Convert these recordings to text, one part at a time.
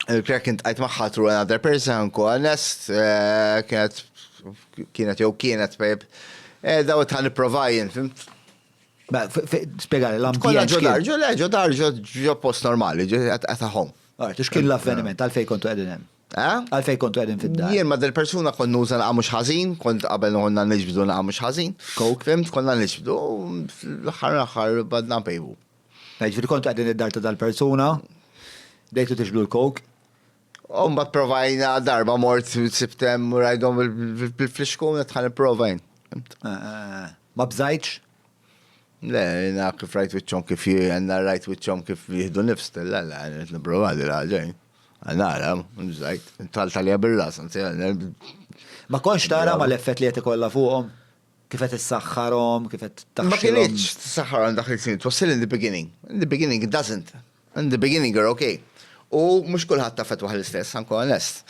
Il-krek kien tqajt magħha through another person, ku honest, eh, kienet kienet jew kienet pejb. Eh, daw tħan niprovajin, fimt? Spiegħali, l-ambjent. Kolla ġo dar, ġo le, ġo dar, ġo post normali, ġo għataħom. Għart, xkien l-avveniment, għalfej kontu għedin hemm? Eh? Għalfej kontu għedin fid-dar? Jien ma del persuna kon nuża naqa mux ħazin, kont qabel nħonna nġbdu naqa mux ħazin. Kok? Fimt, konna nġbdu, l-ħar l-ħar badna pejbu. Jiġifieri kontu qegħdin id-dar ta' dal-persuna, bdejtu tixbdu l-coke. U mbagħad provajna darba mort sibt hemm u rajdhom bil-flixkun qed ħa nipprova jien. Ma bżajtx? Le, jiena kif rajt wiċċhom kif jiena rajt wiċċhom kif jieħdu nifs, la la, qed nipprova din ħaġa jien. Nara, bżajt, talt għalija bir-ras, anzi. Ma kontx tara mal-effett li qed ikollha fuqhom? Kif qed issaħħarhom, kif qed taħxilhom. Ma kinitx tissaħħarhom dak li snin, it was still in the beginning. In the beginning it doesn't. In the beginning you're okay. U mhux kulħadd taffettwah l-istess, ħankun onest.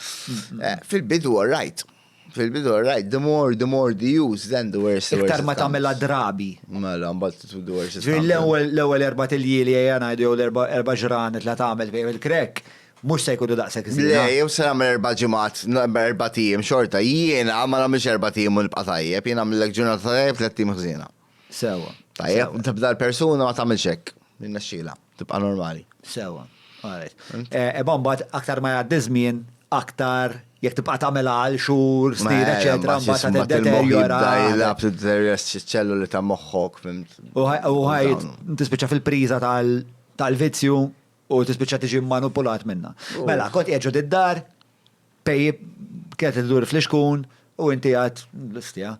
Eh, fil-bidu all right. Fil-bidu all right. The more, the more the use, then the worse. Iktar ma tagħmilha drabi. Mela, mbagħad the worse. L-ewwel erba' tiljieli ejja ngħidu jew l-erba' ġranet la tagħmel fejn il-krek. Mhux se jkunu daqshekk żiena. Le, jew se nagħmel erba' ġimgħat, erba' ijiem xorta. Jiena ma nagħmilx erba' ijiem u nibqa' tajjeb, jien nagħmillek ġurnata tajjeb tliet ijiem ħżiena. Sewwa. Tajjeb, tibda l-persuna ma tagħmilx hekk. Jirnexxielha, tibqa' normali. Sewwa. All right. Imma mbagħad aktar ma jgħaddi ż-żmien, aktar jekk tibqa' tagħmilha għal xhur, snin, eċċetera, mbagħad se tiddeterjora. Jilgħab tiddeterjora ċ-ċelloli ta' moħħok. U ħajt tispiċċa fil-priża tal-vizzju. U tispiċċa tiġi manipulat minnha. Mela, kont qiegħed ġod id-dar, pejjib kienet idur fl-ixkun, u inti għad l-istja.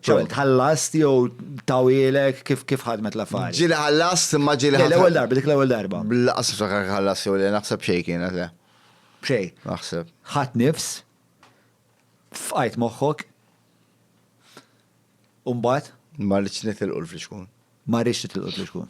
ċolt ħallast jew tawilek kif kif ħadmet l-affarijiet. Ġili ħallast imma ġili ħallast. L-ewwel darba, dik l-ewwel darba. Laqas ftakar ħallast jew li naħseb xejn kienet le. Xejn. Naħseb. Ħadd nifs, fqajt moħħok, u mbagħad. Ma rridx nitilqu l-flixkun. Ma rridx nitilqu l-flixkun.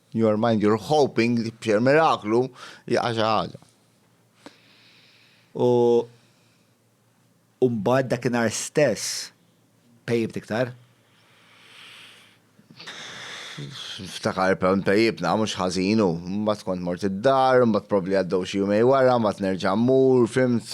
In your mind you're hoping li b'xer miraklu jaqa' xi ħaġa. U u mbagħad dakinhar stess pejjibt iktar. Niftakar però npejjibna mhux ħażin u mbagħad kont mort id-dar, mbagħad probbli għaddew xi jumej wara, mbagħad nerġa' mmur, fhimt?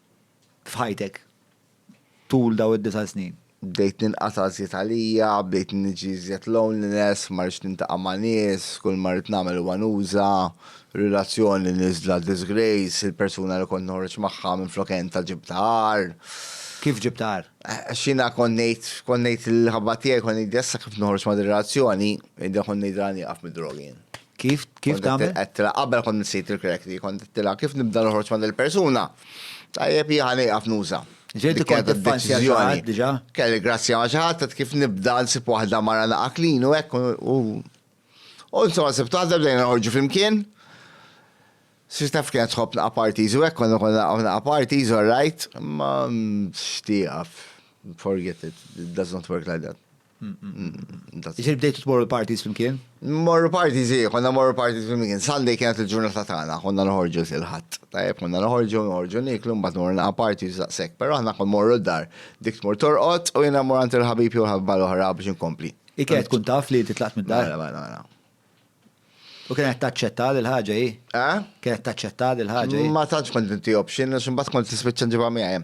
f'ħajtek tul daw id-disa' snin? Bdejt ninqata' żjed għalija, bdejt niġi żjed loneliness, ma rridx nintaqa' ma' nies, kull ma rrid nagħmel huwa nuża, relazzjoni niżla disgrace, il-persuna li kont noħroġ magħha minflok entha ġibtha agħar. Kif ġibtha agħar? Għax jiena kont ngħid, kont ngħid lill-ħabba tiegħi, kont ngħidilha issa kif noħroġ ma' din ir-relazzjoni, ngħidilha kont ngħidilha nieqaf mid-drogi jien. Kif kif tagħmel? Qedtila qabel kont nsejt il-krek li kont qedtila kif nibda noħroġ ma' il-persuna. Tajjeb jieħa nejqaf nuża. Ġejti kont deċiżjoni xaħat diġà? Kelli grazzja ma' xi ħadd kif nibda nsib waħda mara naqa' klin u hekk u u insomma sibt waħda bdejna noħorġu flimkien. Sir taf kienet tħobb naqa' parties u hekk konna konna naqa' parties all right, ma xtieqaf. Forget it, it does not work like that. Ġir bdejtu tmorru l-parties flimkien? Morru parties, zi, konna morru parties flimkien. Sunday kienet il-ġurnata tagħna, konna noħorġu il-ħadd. Tajjeb, konna noħorġu, noħorġu niklu, mbagħad morru naqa' parties daqshekk. Però aħna kon morru d-dar, dik tmur torqod u jiena mor għand il-ħabib jew ħabba l-oħra biex inkompli. Ikel tkun taf li titlaqt mid-dar? Mela, mela, mela. U kienet taċċetta l-ħaġa hi? Eh? Kienet taċċetta l-ħaġa hi? Ma tantx kont inti option, x'imbagħad kont tispiċċa ġibha miegħi.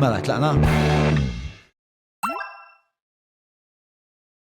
Mela, tlaqna?